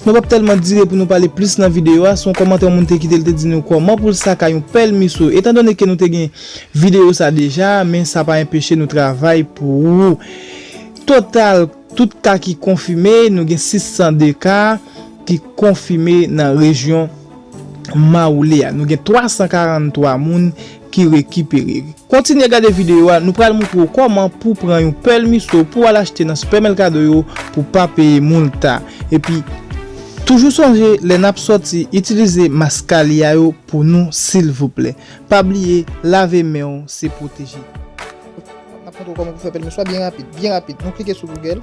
Nou pap tèlman dire pou nou pale plis nan videyo a, se yon kòmantè yon moun te kite li te di nou kòman pou l sa ka yon pèlmiso. Etan done ke nou te gen videyo sa deja, men sa pa enpeche nou travay pou ou. Total tout ka ki konfime, nou gen 602 ka ki konfime nan rejyon Mawoule a. Nou gen 343 moun ki rekipere. Kontinye gade videyo a, nou pral moutre w kòman pou w pran yon pèl miso pou w al achte nan Super Mercado yo pou w pa peye multa. Epi, toujou sonje lè n ap sòti itilize Mascalia yo pou nou silvouplè. Pa bliye lave men w se pwoteje. N ap montre w kòman pou w fè pèl miso a byen rapid, byen rapid. Nou klike sou Google.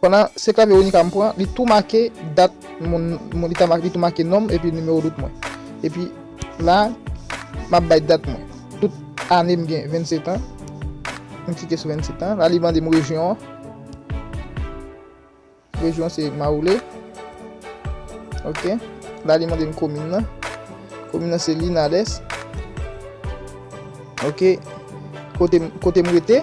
Pandan se clave Ronika m pran li tou make dat moun li ta make li tou make nom epi numéro dout mwen epi la map bay dat mwen tout ane m gen 27 ans m klike sou 27 ans la li mande m rejyon an rejyon se maroule ok la li mande m komin nan komin nan se linales ok kote m rete.